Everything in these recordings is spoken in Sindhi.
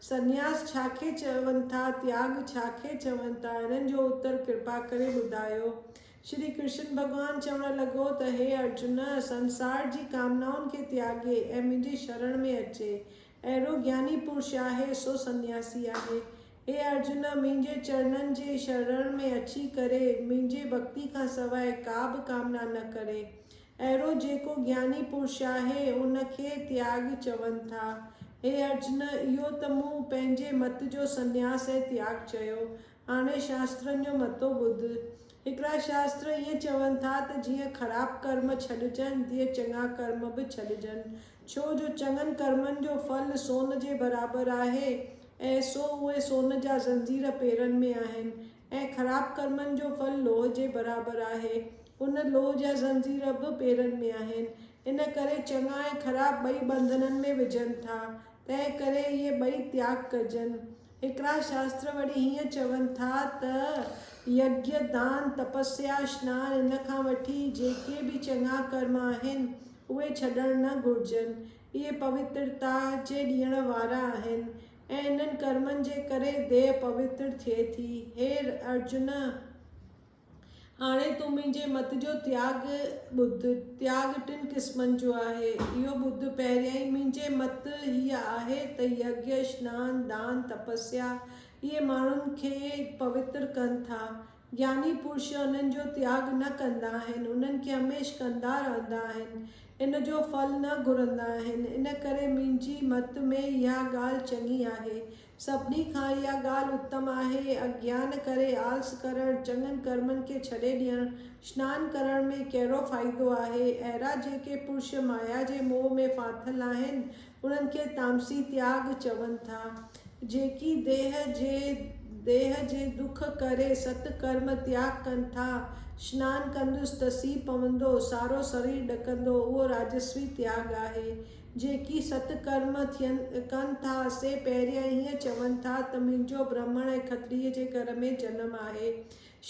سنياس ڇا کي چون ٿا؟ تياڳ ڇا کي چون ٿا؟ انهن جو اتر ڪرپا ڪري ٻڌايو. شري ڪرشن ڀڳوان چوڻ لڳو ته هي ارجن! سنسار جي ڪامنائن کي تياڳي ۽ منهنجي شرڻ ۾ اچي، اهڙو گياني پرش آهي، سو سنياسي آهي. هي ارجن! منهنجي چرڻن جي شرڻ ۾ اچي ڪري منهنجي ڀڳتي کان سواء ڪا به ڪامنا نه ڪري. اهڙو جيڪو گياني پرش آهي، ان کي تياڳ چون ٿا. هي ارجن! اهو ته مون پنهنجي مت جو سنياس ۽ تياڳ چيو. هاڻي شاسترن جو متو ٻڌ. هڪڙا شاستر ائين چون ٿا ته جيئن خراب ڪرم ڇڏجن، تيئن چڱا ڪرم به ڇڏجن. ڇو جو چڱن ڪرمن جو ڦل سون جي برابر آهي ۽ سو اهي سون جا زنجير پيرن ۾ آهن ۽ خراب ڪرمن جو ڦل لوهه جي برابر آهي. ان لوهه جا زنجير به پيرن ۾ آهن. ان ڪري چڱا ۽ خراب ٻئي ٻنڌنن ۾ وجهن ٿا. تنهن ڪري اهي ٻئي تياڳ ڪجن. هڪڙا شاستر وري هيئن چون ٿا ته، يگيا، دان، تپسيا، سنان، ان کان وٺي جيڪي به چڱا ڪرم آهن، اهي ڇڏڻ نه گهرجن. اهي پوترتا جي ڏيڻ وارا آهن. ۽ انهن ڪرمن جي ڪري ديهه پوتر ٿئي ٿي. هي ارجن! هاڻي تون منهنجي مت جو تياڳ ٻڌ. تياڳ ٽن قسمن جو آهي، اهو ٻڌ، پهريائين منهنجي مت هيء آهي ته يگيه، سنان، دان، تپسيا، اهي ماڻهن کي پوتر ڪن ٿا. جياني پرش انهن جو تياڳ نه ڪندا آهن، انهن کي هميشھ ڪندا رهندا آهن، ان جو ڦل نه گهرندا آهن، ان ڪري منهنجي مت ۾ اها ڳالھ چڱي آهي. سڀني کان اها ڳالھ اتم آهي، اگيان ڪري آلس ڪرڻ، چڱن ڪرمن کي ڇڏي ڏيڻ، سنان ڪرڻ ۾ ڪهڙو فائدو آهي؟ اهڙا جيڪي پرش مايا جي موهه ۾ ڦاٿل آهن، انهن کي تامسي تياڳ چون ٿا، جيڪي ديهه جي ديهه جي دک ڪري ست ڪرم تياڳ ڪن ٿا. سنان ڪندس ته سي پوندو، سارو سرير ڏڪندو، اهو راجسوي تياڳ آهي. جيڪي ست ڪرم ٿين ڪن ٿا، سي پهريان هيئن چون ٿا ته منهنجو برهمڻ ۽ کتريء جي گهر ۾ جنم آهي.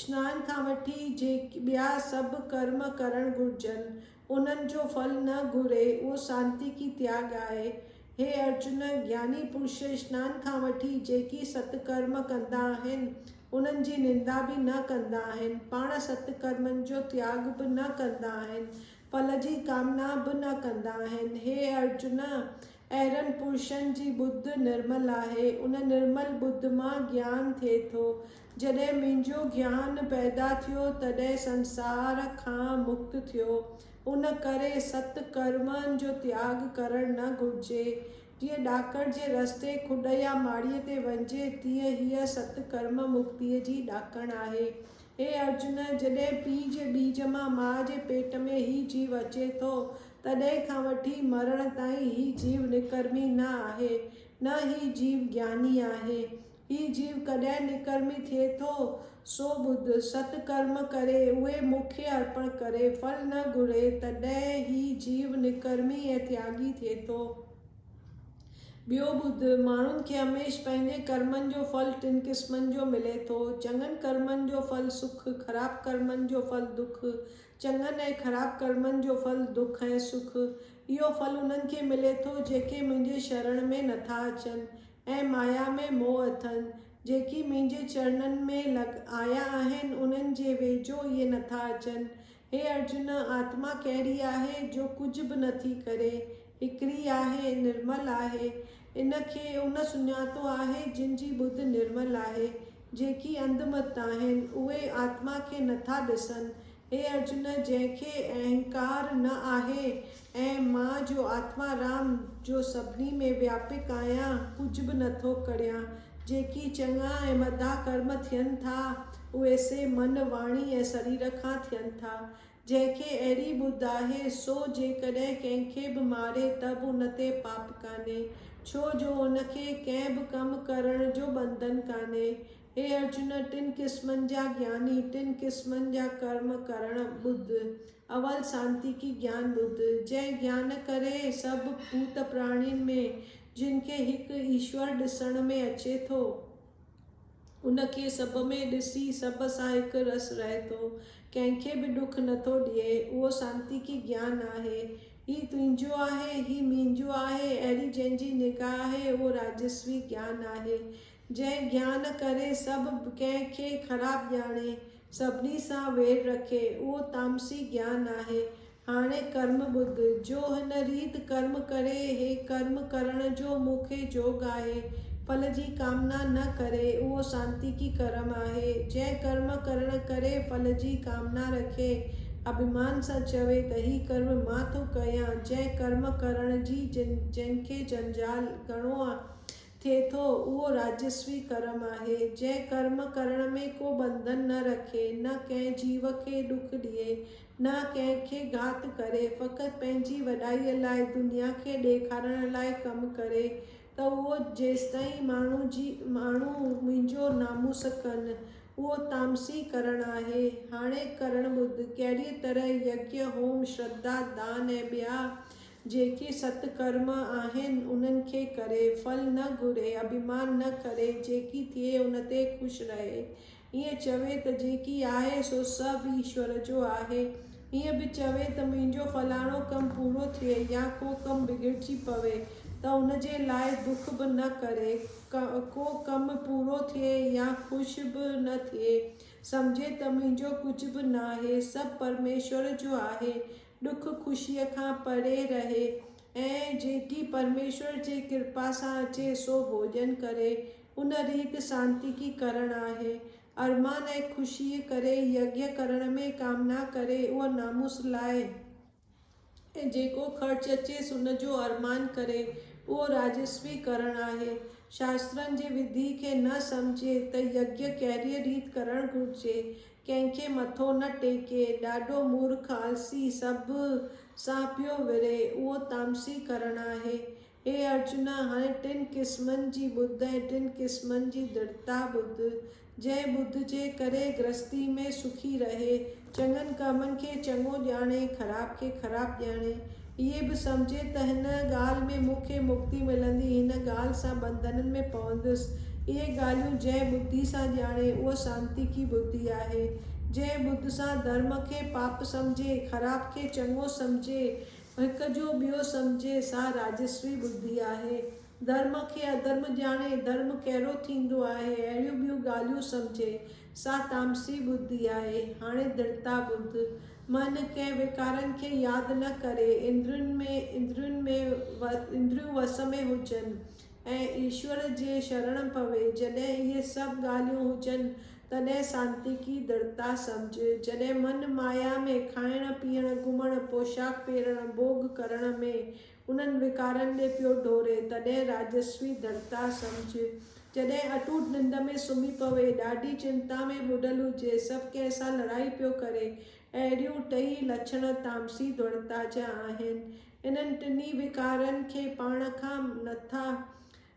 سنان کان وٺي جيڪي ٻيا سڀ ڪرم ڪرڻ گهرجن. انهن جو ڦل نه گهري، اهو سانتيڪي تياڳ آهي. هي ارجن، گياني پرش اشنان کان وٺي جيڪي ست ڪرم ڪندا آهن، انهن جي نندا به نه ڪندا آهن، پاڻ ست ڪرمن جو تياڳ به نه ڪندا آهن، ڦل جي ڪامنا به نه ڪندا آهن. هي ارجن! اهڙن پرشن جي ٻڌ نرمل آهي. ان نرمل ٻڌ مان گيان ٿئي ٿو. جڏهن منهنجو گيان پيدا ٿيو، تڏهن سنسار کان مڪت ٿيو. ان ڪري ست ڪرمن جو تياڳ ڪرڻ نه گهرجي. جيئن ڏاڪڻ جي رستي کڏ يا ماڙيء تي وڃجي، تيئن هيء ست ڪرم مڪتيء جي ڏاڪڻ آهي. اي ارجن! جڏهن پيء جي ٻيج مان ماء جي پيٽ ۾ هي جيو اچي ٿو، تڏهن کان وٺي مرڻ تائين هي جيو نڪرمي نه آهي، نه هي جيو گياني آهي. هي جيو ڪڏهن نڪرمي ٿئي ٿو؟ سو ٻڌ، ست ڪرم ڪري، اهي مون کي ارپڻ ڪري، ڦل نه گهري، تڏهن هي جيو نڪرمي ۽ تياڳي ٿئي ٿو. ٻيو ٻڌ، ماڻهن کي هميشھ پنهنجي ڪرمن جو ڦل ٽن قسمن جو ملي ٿو، چڱن ڪرمن جو ڦل سک، خراب ڪرمن جو ڦل دک، چڱن ۽ خراب ڪرمن جو ڦل دک ۽ سک، اهو ڦل انهن کي ملي ٿو، جيڪي منهنجي شرڻ ۾ نٿا اچن ۽ مايا ۾ موهه اٿن، جيڪي منهنجي چرڻن ۾ لڳ آيا آهن، انهن جي ويجهو اهي نٿا اچن، هي ارجن! آتما ڪهڙي آهي، جو ڪجهه به نه ٿي ڪري؟ هڪڙي آهي، نرمل آهي. ان کي ان سڃاتو آهي، جن جي ٻڌ نرمل آهي. جيڪي انڌ مت آهن، اهي آتما کي نه ٿا ڏسن. هي ارجن! جنهن کي اهنڪار نه آهي، ۽ مان جو آتما رام جو سڀني ۾ وياپڪ آهيان، ڪجهه به نٿو ڪڙهيان. جيڪي چڱا ۽ مداح ڪرم ٿين ٿا، اهي سي من، واڻي ۽ سرير کان ٿين ٿا. جنهن کي اهڙي ٻڌ آهي، سو جيڪڏهن ڪنهن کي به ماري ته به ان تي پاپ ڪانهي، ڇو جو ان کي ڪنهن به ڪم ڪرڻ جو ٻنڌن ڪانهي. هي ارجن! ٽن قسمن جا جياني، ٽن قسمن جا ڪرم ڪرڻ، ٻڌ. اول سانتيڪي گيان ٻڌ، جنهن گيان ڪري سڀ ڀوت پراڻين ۾، جن کي هڪ ايشور ڏسڻ ۾ اچي ٿو، ان کي سڀ ۾ ڏسي سڀ سان هڪ رس رهي ٿو، ڪنهن کي به ڏک نه ٿو ڏئي، اهو سانتيڪي گيان آهي. هي تنهنجو آهي، هي منهنجو آهي، اهڙي جنهن جي نگاهه آهي، اهو راجسوي گيان آهي، جنهن گيان ڪري سڀ ڪنهن کي خراب ڄاڻي، سڀني سان وير رکي، اهو تامسي گيان آهي. هاڻي ڪرم ٻڌ، جو هن ريت ڪرم ڪري، هي ڪرم ڪرڻ جو مون کي جوڳ آهي، ڦل جي ڪامنا نه ڪري، اهو سانتيڪي ڪرم آهي. جنهن ڪرم ڪرڻ ڪري ڦل جي ڪامنا رکي، اڀيمان سان چوي ته هي ڪرم مان ٿو ڪيان، جنهن ڪرم ڪرڻ جي جنهن کي جنجال گهڻو آهي، ٿئي ٿو، اهو راجسوي ڪرم آهي، جنهن ڪرم ڪرڻ ۾ ڪو ٻنڌن نه رکي، نه ڪنهن جيو کي ڏک ڏئي، نه ڪنهن کي گهات ڪري، فقط پنهنجي وڏائيء لاء دنيا کي ڏيکارڻ لاء ڪم ڪري ته اهو جيستائين ماڻهو جي ماڻهو منهنجو ناموس ڪن، اهو تامسي ڪرڻ آهي. هاڻي ڪرڻ ٻڌ، ڪهڙيء طرح يجنا، هوم، شرڌا، دان ۽ ٻيا جيڪي ست ڪرم آهن انهن کي ڪري، ڦل نه گهري، اڀيمان نه ڪري، جيڪي ٿئي ان تي خوش رهي. ائين چوي ته جيڪي آهي سو سڀ ايشور جو آهي. ائين به چوي ته منهنجو فلاڻو ڪم پورو ٿئي يا ڪو ڪم بگڙجي پوي ته ان جي لاء دک به نه ڪري. ڪو ڪم پورو ٿئي يا خوش به نه ٿئي، سمجهي ته منهنجو ڪجهه به ناهي، سڀ پرميشور جو آهي. ڏک خوشيء کان پري رهي ۽ جيڪي پرميشور جي ڪرپا سان اچي سو ڀوڄن ڪري، ان ريت سانتيڪي ڪرڻ آهي. ارمان ۽ خوشيء ڪري يگيا ڪرڻ ۾ ڪامنا ڪري اهو ناموس لاهي ۽ جيڪو خرچ اچيس ان جو ارمان ڪري اهو راجسوي ڪرڻ آهي. شاسترن جي وڌي کي نه سمجهي ته يگيا ڪهڙيء ريت ڪرڻ گهرجي ڪنهن کي مٿو نه ٽيڪي، ڏاڍو مورک، آلسي، سڀ سان پيو ورهي، اهو تامسي ڪرڻ آهي. هي ارجنا! هاڻي ٽن قسمن جي ٻڌ ۽ ٽن قسمن جي درڍتا ٻڌ. جنهن ٻڌ جي ڪري گرهستيء ۾ سکي رهي، چڱن ڪمن کي چڱو ڄاڻي، خراب کي خراب ڄاڻي، هيء به سمجهي ته هن ڳالهه ۾ مون کي مڪتي ملندي، هن ڳالهه سان ٻنڌنن ۾ پوندس. اهي ڳالهيون جنهن ٻڌي سان ڄاڻي، اهو سانتيڪي ٻڌي آهي. جنهن ٻڌ سان ڌرم کي پاپ سمجهي، خراب کي چڱو سمجهي، هڪ جو ٻيو سمجهي، سا راجسوي ٻڌي آهي. ڌرم کي اڌرم ڄاڻي، ڌرم ڪهڙو ٿيندو آهي، اهڙيون ٻيون ڳالهيون سمجهي، سا تامسي ٻڌي آهي. هاڻي درتا ٻڌ. من ڪنهن وڪارن کي ياد نه ڪري. اندرين ۾ اندرين ۾ اندريون وس ۾ هجن ۽ ايشور جي شرڻ پوي. جڏهن اهي سڀ ڳالهيون هجن، تڏهن سانتيڪي درتا سمجهه. جڏهن من مايا ۾ کائڻ، پيئڻ، گهمڻ، پوشاڪ پيرڻ، ڀوڳ ڪرڻ ۾ انهن وڪارن ڏي پيو ڊوڙي، تڏهن راجسوي ڌرتا سمجهه، جڏهن اٽوٽ ننڊ ۾ سمهي پوي، ڏاڍي چنتا ۾ ٻڏل هجي، سڀ ڪنهن سان لڙائي پيو ڪري، اهڙيون ٽيئي لڇڻ تامسي ڌرتا جا آهن. انهن ٽنهي وڪارن کي پاڻ کان نٿا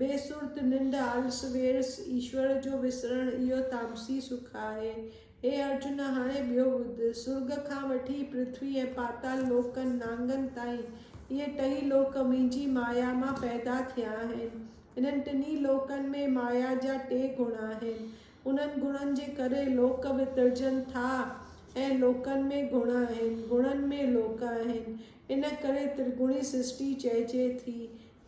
بي سرت ننڊ آلس ويرس ايشور جو وسرڻ اهو تامسي سک آهي. هي ارجن هاڻي ٻيو ٻڌ. سرڳ کان وٺي پرٿوي ۽ پاتال لوڪن، نانگن، تائين اهي ٽئي لوڪ منهنجي مايا مان پيدا ٿيا آهن. انهن ٽنهي لوڪن ۾ مايا جا ٽي گڻ آهن. انهن گڻن جي ڪري لوڪ وترجن ٿا ۽ لوڪن ۾ گڻ آهن، گڻن ۾ لوڪ آهن. ان ڪري ترگڻي سرشٽي چئجي ٿي.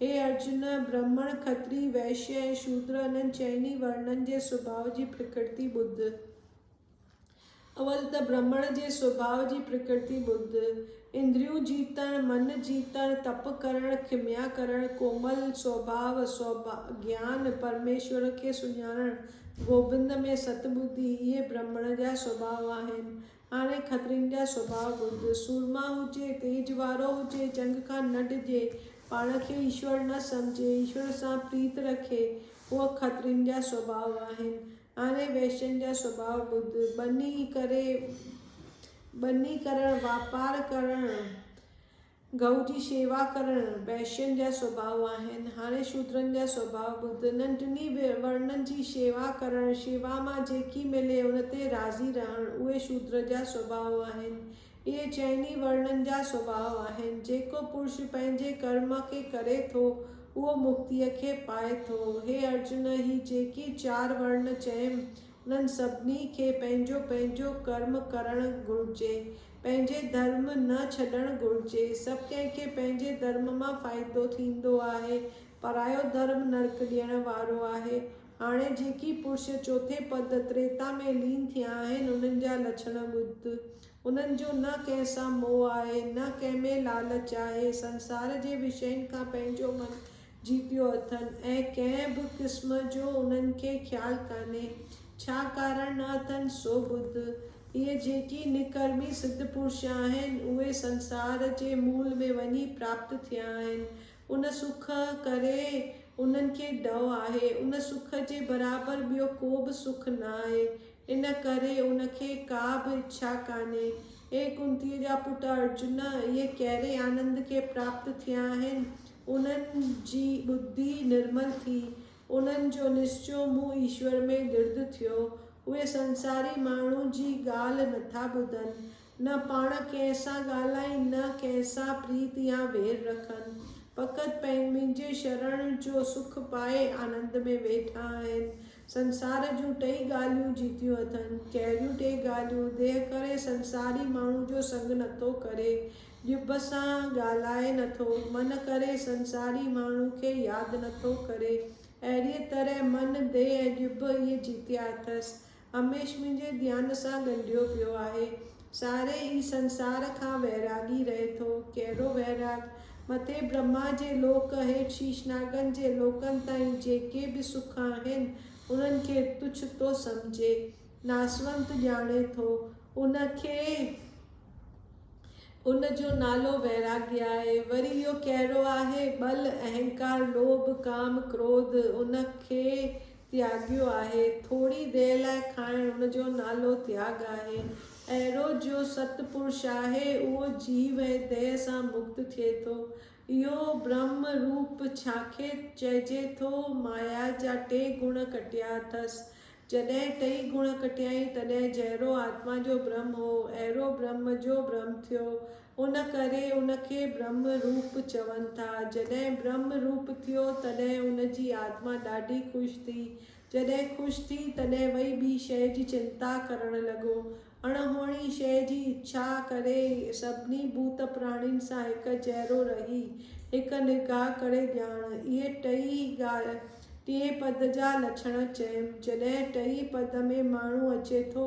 هي ارجن، برهمڻ، کتري، وئشيه ۽ شودر انهن چئن ئي ورنن جي سڀاء جي پرڪرتي ٻڌ. اول ته برهمڻ جي سڀاء جي پرڪرتي ٻڌ. اندريون جيتڻ، من جيتڻ، تپ ڪرڻ، کميا ڪرڻ، ڪومل سوڀاء، سوڀاء، گيان، پرميشور کي سڃاڻڻ، گوبند ۾ ست ٻڌي، اهي برهمڻ جا سڀاء آهن. هاڻي کترين جا سڀاء ٻڌ. سورما هجي، تيج وارو هجي، جنگ کان نه ڊڄي، پاڻ کي ايشور نه سمجهي، ايشور سان پريت رکي، اهي کترين جا سڀاء آهن. هاڻي ويشين جا سڀاء ٻڌ. ٻني ڪري، ٻني ڪرڻ، واپار ڪرڻ. گئو جي شيوا ڪرڻ وئشين جا سڀاء آهن. هاڻي شودرن جا سڀاء ٻڌ. انهن ٽنهي ورنن جي شيوا ڪرڻ، شيوا مان جيڪي ملي ان تي راضي رهڻ، اهي شودر جا سڀاء آهن. اهي چئن ئي ورنن جا سڀاء آهن. جيڪو پرش پنهنجي ڪرم کي ڪري ٿو، اهو مڪتيء کي پائي ٿو. هي ارجن! هي جيڪي چار ورن چيم، انهن سڀني کي پنهنجو پنهنجو ڪرم ڪرڻ گهرجي. پنهنجي ڌرم نه ڇڏڻ گهرجي. سڀ ڪنهن کي پنهنجي ڌرم مان فائدو ٿيندو آهي. پرايو ڌرم نرڪ ڏيڻ وارو آهي. هاڻي جيڪي پرش چوٿين پد تريتا ۾ لين ٿيا آهن انهن جا لڇڻ ٻڌ. انهن جو نه ڪنهن سان موهه آهي نه ڪنهن ۾ لالچ آهي. سنسار جي وشين کان پنهنجو من جيتيو اٿن ۽ ڪنهن به قسم جو انهن کي خيال ڪانهي ڇا ڪارڻ نه اٿن سو ٻڌ. اهي جيڪي نڪرمي سڌ پرش آهن اهي سنسار جي مول ۾ وڃي پراپت ٿيا آهن. ان سک ڪري انهن کي ڊؤ آهي. ان سک جي برابر ٻيو ڪو به سک ناهي. ان ڪري ان کي ڪا به اڇا ڪانهي. اي ڪنتيء جا پٽ ارجن! اهي ڪهڙي آنند کي پراپت ٿيا آهن انهن جي ٻڌي نرمل ٿي، انهن جو نسچو مون ايشور ۾ درد ٿيو، اهي سنساري ماڻهو جي ڳالهه نٿا ٻڌن، نه پاڻ ڪنهن سان ڳالهائين، نه ڪنهن سان پريت يا وير رکن، فقط منهنجي شرڻ جو سک پائي آنند ۾ ويٺا آهن، سنسار جون ٽئي ڳالهيون جيتيون اٿن. ڪهڙيون ٽئي ڳالهيون؟ ديهه ڪري سنساري ماڻهو جو سڱ نٿو ڪري، ڄڀ سان ڳالهائي نٿو، من ڪري سنساري ماڻهو کي ياد نٿو ڪري، اهڙيء طرح من، ديهه ۽ ڄڀ اهي جيتيا اٿس. هميشھ منهنجي ڌيان سان ڳنڍيو پيو آهي. ساري ئي سنسار کان ويراڳي رهي ٿو. ڪهڙو ويراڳ؟ مٿي برهما جي لوڪ، هيٺ شيشناگن جي لوڪن تائين جيڪي به سک آهن، انهن کي تڇ ٿو سمجهي. ناسونت ڄاڻي ٿو. ان کي ان جو نالو ويراڳي آهي. وري اهو ڪهڙو آهي؟ ٻل، اهنڪار، لوڀ، ڪام، ڪروڌ، ان کي تياڳيو آهي. ٿوري دير لاء کائڻ ان جو نالو تياڳ آهي. اهڙو جو ست پرش آهي اهو جيو ۽ ديهه سان مڪت ٿئي ٿو. اهو برهم روپ ڇاکي چئجي ٿو. مايا جا ٽي گڻ ڪٽيا اٿس. جڏهن ٽئي گڻ ڪٽيائين تڏهن جهڙو آتما جو برهم هو اهڙو برهم جو برهم ٿيو. ان ڪري ان کي برهمه روپ چون ٿا. جڏهن برهمه روپ ٿيو، تڏهن ان جي آتما ڏاڍي خوش ٿي. جڏهن خوش ٿي، تڏهن وئي ٻي شيء جي چنتا ڪرڻ لڳو. اڻهوڻي شيء جي اڇا ڪري، سڀني ڀوت پراڻين سان هڪ جهڙو رهي، هڪ نگاهه ڪري ڄاڻ. اهي ٽئي ڳالهه ٽئين پد جا لڇڻ چيم. جڏهن ٽئي پد ۾ ماڻهو اچي ٿو،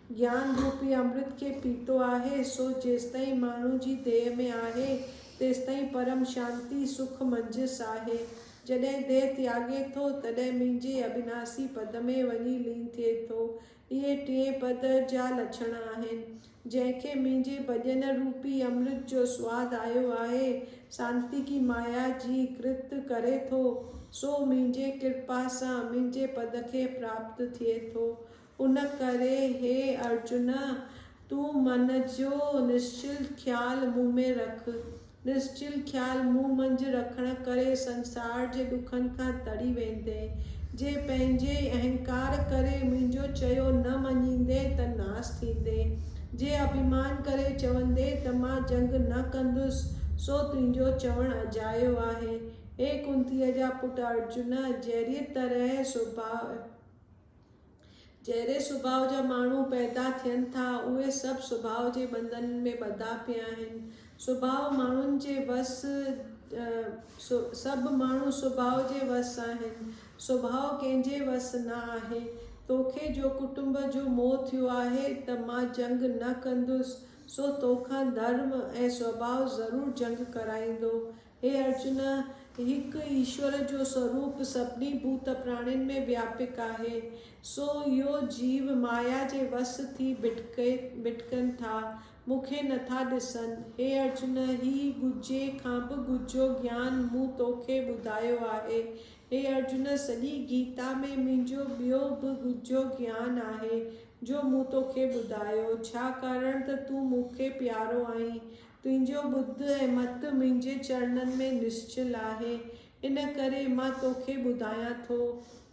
گيان روپي امرت کي پيتو آهي، سو جيستائين ماڻهو جي ديهه ۾ آهي، تيستائين پرم شانتي، سک، منجهس آهي. جڏهن ديهه تياڳي ٿو، تڏهن منهنجي اٻناسي پد ۾ وڃي لين ٿئي ٿو. اهي ٽئين پد جا لڇڻ آهن. جنهن کي منهنجي ڀڄن روپي امرت جو سواد آيو آهي، سانتيڪي مايا جي ڪرت ڪري ٿو، سو منهنجي ڪرپا سان منهنجي پد کي پراپت ٿئي ٿو. ان ڪري هي ارجن! تون من جو نشچل خيال مون ۾ رک. نشچل خيال مون منجهه رکڻ ڪري سنسار جي ڏکن کان تري ويندين. جي پنهنجي اهنڪار ڪري منهنجو چيو نه مڃيندين ته ناس ٿيندين. جي اڀيمان ڪري چوندين ته مان جنگ نه ڪندس سو تنهنجو چوڻ اجايو آهي. هي ڪنتيء جا پٽ ارجن! جهڙيء طرح سوڀاء. جهڙي سڀاء جا ماڻهو پيدا ٿين ٿا، اهي سڀ سڀاء جي ٻنڌن ۾ ٻڌا پيا آهن. سڀاء ماڻهن جي وس سڀ ماڻهو سڀاء جي وس آهن. سڀاء ڪنهن جي وس نه آهي. توکي جو ڪٽنب جو موهه ٿيو آهي ته مان جنگ نه ڪندس، سو توکان ڌرم ۽ سڀاء ضرور جنگ ڪرائيندو. هي ارجن! هڪ ايشور جو سوروپ سڀني ڀوت پراڻين ۾ وياپڪ آهي، سو اهو جيو مايا جي وس ٿي ڀٽڪن ٿا، مون کي نٿا ڏسن. هي ارجن! هي ڳجهي کان به ڳجهو گيان مون تو کي ٻڌايو آهي. هي ارجن! سڄي گيتا ۾ منهنجو ٻيو به ڳجهو گيان آهي، جو مون تو کي ٻڌايو، ڇا ڪارڻ ته تون مون کي پيارو آهين. تنهنجو ٻڌ ۽ مت منهنجي چرڻن ۾ نسچل آهي، ان ڪري مان توکي ٻڌايان ٿو.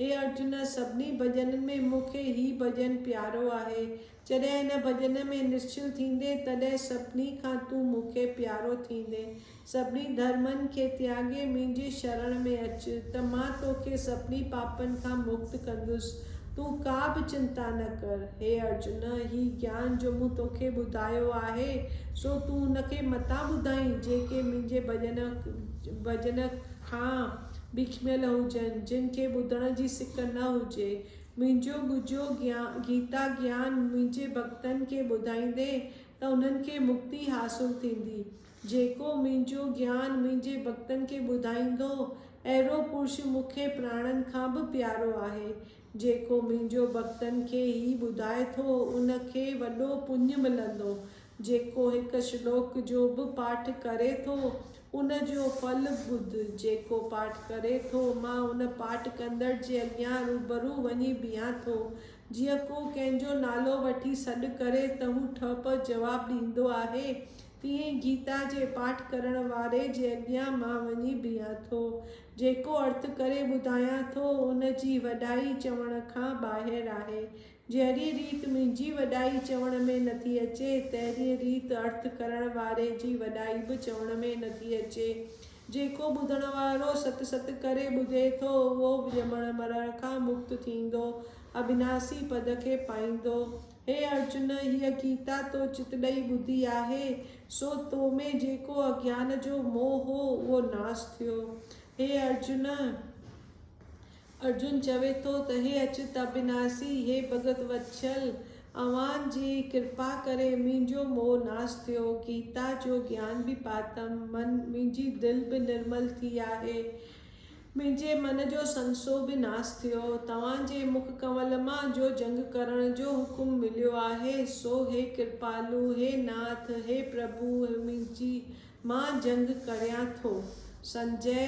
هي ارجن! سڀني ڀڄنن ۾ مون کي هي ڀڄن پيارو آهي. جڏهن هن ڀڄن ۾ نسچل ٿيندين، تڏهن سڀني کان تون مون کي پيارو ٿيندين. سڀني ڌرمن کي تياڳي منهنجي شرڻ ۾ اچ، ته مان توکي سڀني پاپن کان مڪت ڪندس. تون ڪا به چنتا نه ڪر. هي ارجن! هي گيان جو مون توکي ٻڌايو آهي، سو تون ان کي متان ٻڌائين، جيڪي منهنجي ڀڄن کان بکميل هجن، جن کي ٻڌڻ جي سڪ نه هجي. منهنجو ڳجهو گيتا گيان منهنجي ڀڳتن کي ٻڌائيندين ته انهن کي مڪتي حاصل ٿيندي. جيڪو منهنجو گيان منهنجي ڀڳتن کي ٻڌائيندو، اهڙو پرش مون کي پراڻن کان به پيارو آهي. جيڪو منهنجو ڀڳتن کي هي ٻڌائي ٿو، ان کي وڏو پڃ ملندو. جيڪو هڪ شلوڪ جو به پاٺ ڪري ٿو، ان جو ڦل ٻڌ، جيڪو پاٺ ڪري ٿو، مان ان پاٺ ڪندڙ جي اڳيان روبرو وڃي بيهان ٿو. جيئن ڪو ڪنهن جو نالو وٺي سڏ ڪري ته هو ٺهه پهه جواب ڏيندو آهي، تيئن گيتا جي پاٺ ڪرڻ واري جي اڳيان مان وڃي بيهان ٿو. جيڪو ارٿ ڪري ٻڌايان ٿو، ان جي وڏائي چوڻ کان ٻاهر آهي. جهڙيء ريت منهنجي وڏائي چوڻ ۾ نٿي اچي، تهڙيء ريت ارٿ ڪرڻ واري جي وڏائي به چوڻ ۾ نٿي اچي. جيڪو ٻڌڻ وارو ست ست ڪري ٻڌي ٿو، اهو ڄمڻ مرڻ کان مڪت ٿيندو، اڀناسي پد کي پائيندو. هي ارجن! هيء گيتا تو چت ڏئي ٻڌي آهي، سو تو ۾ جيڪو اگيان جو موهه هو، اهو ناس ٿيو. هي ارجن! ارجن چوي ٿو ته هي اچت ابناسي، هي ڀڳت وتسل! اوهان جي ڪرپا ڪري منهنجو موهه ناس ٿيو، گيتا جو گيان به پاتم، منهنجي دل به نرمل ٿي آهي. منهنجي من جو سنسو به ناس ٿيو. توهان جي مک ڪنول مان جو جنگ ڪرڻ جو حڪم مليو آهي، سو هي ڪرپالو، هي ناٿ، هي پرڀو منهنجي، مان جنگ ڪريان ٿو. سنجئه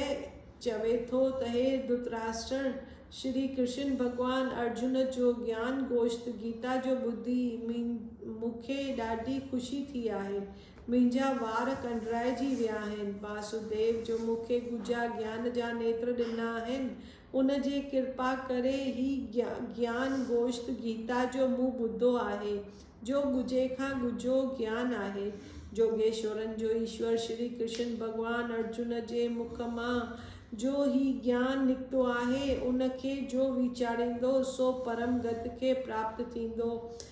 چوي ٿو ته هي ڌرتراشٽر، شري ڪرشن ڀڳوان ارجن جو گيان گوشت گيتا جو ٻڌي مون کي ڏاڍي خوشي ٿي آهي. منهنجا وار ڪنڊرائجي ويا آهن. واسوديو جو مون کي ڳجها گيان جا نيتر ڏنا آهن، ان جي ڪرپا ڪري هي گيان گوشت گيتا جو مون ٻڌو آهي، جو ڳجهي کان ڳجهو گيان آهي. جوڳيشورن جو ايشور شري ڪرشن ڀڳوان ارجن جي مک مان جو هي گيان نڪتو آهي، ان کي جو ويچاريندو، سو پرم گت کي پراپت ٿيندو.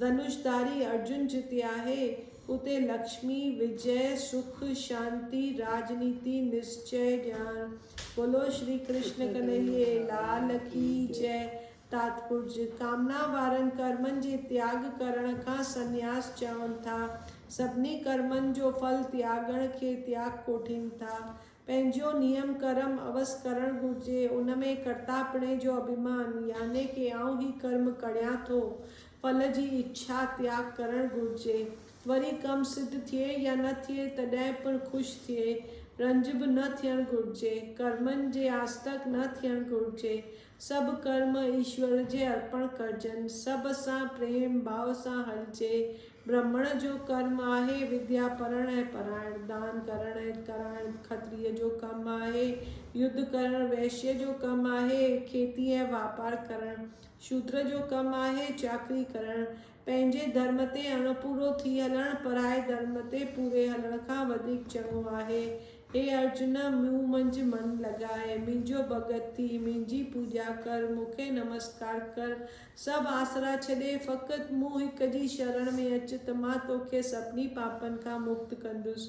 ڌنوش ڌاري ارجن جتي آهي، اتي لڪشمي، وجئه، سک، شانتي، راجنيتي، نسچئه، ڄاڻ. بولو شري ڪرشن ڪنهيي لال ڪي جئه. تاتپرج، ڪامنا وارن ڪرمن جي تياڳ ڪرڻ کان سنياس چون ٿا. سڀني ڪرمن جو ڦل تياڳڻ کي تياڳ ڪوٺين ٿا. پنهنجو نيم ڪرم عوض ڪرڻ گهرجي، ان ۾ ڪرتاپڻي جو اڀيمان، يعني ڪي آئون هي ڪرم ڪڙيان ٿو، ڦل جي اڇا تياڳ ڪرڻ گهرجي. وري ڪم سڌ ٿئي يا نه ٿئي تڏهن پڻ خوش ٿئي، رنج به نه ٿيڻ گهرجي، ڪرمن جي آسدڪ نه ٿيڻ گهرجي، سڀ ڪرم ايشور جي ارپڻ ڪرجن. سڀ سان پريم ڀاء سان هلجي. برهمڻ جو ڪرم آهي وديا پڙهڻ ۽ پرائڻ، دان ڪرڻ ۽ ڪرائڻ، کتريء جو ڪم آهي يڌ ڪرڻ، ويشيء جو ڪم آهي کيتي ۽ واپار ڪرڻ، شودر جو ڪم آهي چاڪري ڪرڻ، پنهنجي ڌرم تي اڻ پورو ٿي هلڻ پرائي ڌرم تي پوري هلڻ کان وڌيڪ چڱو آهي. هي ارجن! مون منجهه من لڳاء، منهنجو ڀڳت ٿي، منهنجي پوڄا ڪر، مون کي نمسڪار ڪر، سڀ آسرا ڇڏي، فقط مون هڪ جي شرڻ ۾ اچ ته مان توکي سڀني پاپن کان مڪت ڪندس.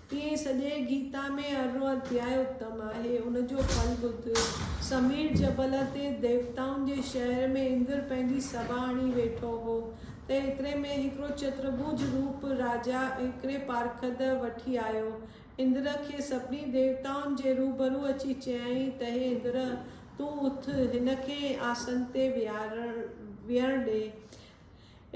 تيئن سڄي گيتا ۾ ارو اڌيائي اتم آهي. ان جو ڦل ٻڌ. سمير جبل تي ديوتائن جي شهر ۾ اندر پنهنجي سڀا هڻي ويٺو هو ته ايتري ۾ هڪڙو چترڀوج روپ راجا هڪڙي پارکد وٺي آيو. اندر کي سڀني ديوتائن جي روبرو اچي چيائين ته هي اندر! تون اٿ، هن کي آسن تي ويهڻ ڏي.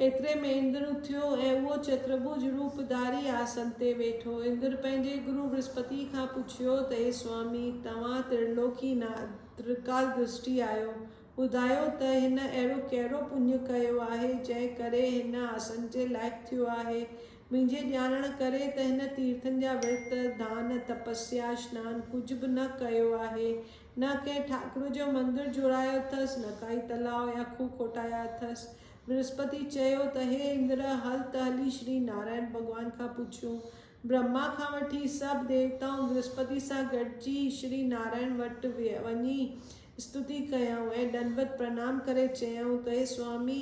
ايتري ۾ اندر اٿيو ۽ اهو چترڀوج روپ ڌاري آسن تي ويٺو. اندر پنهنجي گرو برهسپتيء کان پڇيو ته اي سوامي، توهان ترلوڪي ناٿ، ترڪال درشٽي آهيو، ٻڌايو ته هن اهڙو ڪهڙو پڃ ڪيو آهي، جنهن ڪري هن آسن جي لائق ٿيو آهي؟ منهنجي ڄاڻڻ ڪري ته هن تيرٿن جا ورت، ڌان، تپسيا، سنان ڪجهه به نه ڪيو آهي. نه ڪنهن ٺاڪر جو مندر جوڙايو اٿس، نه ڪائي تلاء يا کوهه کوٽايا اٿس. برهسپتي چيو ته هي اندر، هل ته هلي شري نارائڻ ڀڳوان کان پڇيون. برهما کان وٺي سڀ ديوتائون برهسپتي سان گڏجي شري نارائڻ وٽ وڃي استتي ڪيائون ۽ ڏنڊوت پرنام ڪري چيائون ته هي سوامي!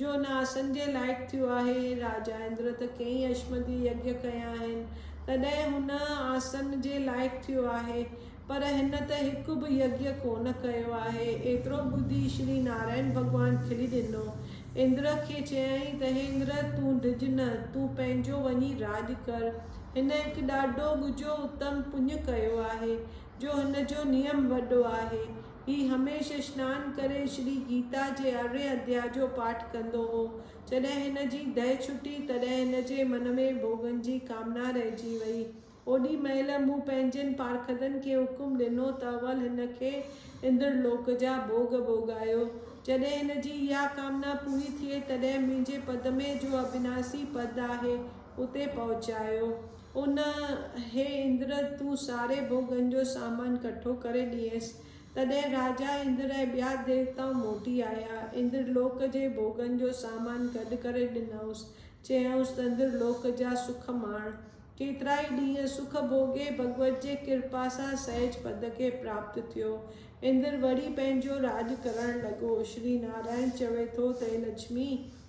جو نه آسن جي لائق ٿيو آهي. راجا اندر ته ڪئين اشمدي يگيا ڪيا آهن، تڏهن هن آسن جي لائق ٿيو آهي، پر هن ته هڪ به يگيا ڪونه ڪيو آهي. ايترو ٻڌي شري نارائڻ ڀڳوان کلي ڏنو. اندر کي چيائين ته هي اندر تون ڊڄ نه، تون پنهنجو وڃي راڄ ڪر. هن هڪ ڏاڍو ڳجهو اتم پڃ ڪيو آهي، جو هن جو نيم وڏو آهي. هي هميشه سنان ڪري شري گيتا جي ارڙهين اڌيا جو پاٺ ڪندو هو. جڏهن هن جي دهه ڇٽي، تڏهن هن جي من ۾ ڀوڳن جي ڪامنا رهجي ويئي. اوڏي مهل مون پنهنجن پارکدن کي حڪم ڏنو ته اول هن کي اندر لوڪ جا ڀوڳ ڀوڳايو. جڏهن هن جي اها ڪامنا پوري ٿئي، تڏهن منهنجي پدمي، جو ابناسي پد آهي، اتي پهچايو. ان هي اندر! تون ساري ڀوڳن جو سامان ڪٺو ڪري ڏينس. تڏهن راجا اندر ۽ ٻيا ديوتائون موٽي آيا. اندر لوڪ جي ڀوڳن جو سامان گڏ ڪري ڏنائونس. چيائونس ته اندر لوڪ جا سک ماڻ. ڪيترائي ڏينهن سک ڀوڳي ڀڳوت جي ڪرپا سان سهج پد کي پراپت ٿيو. اندر وري پنهنجو راڄ ڪرڻ لڳو. شري نارائڻ چوي ٿو ته اي لڇمي!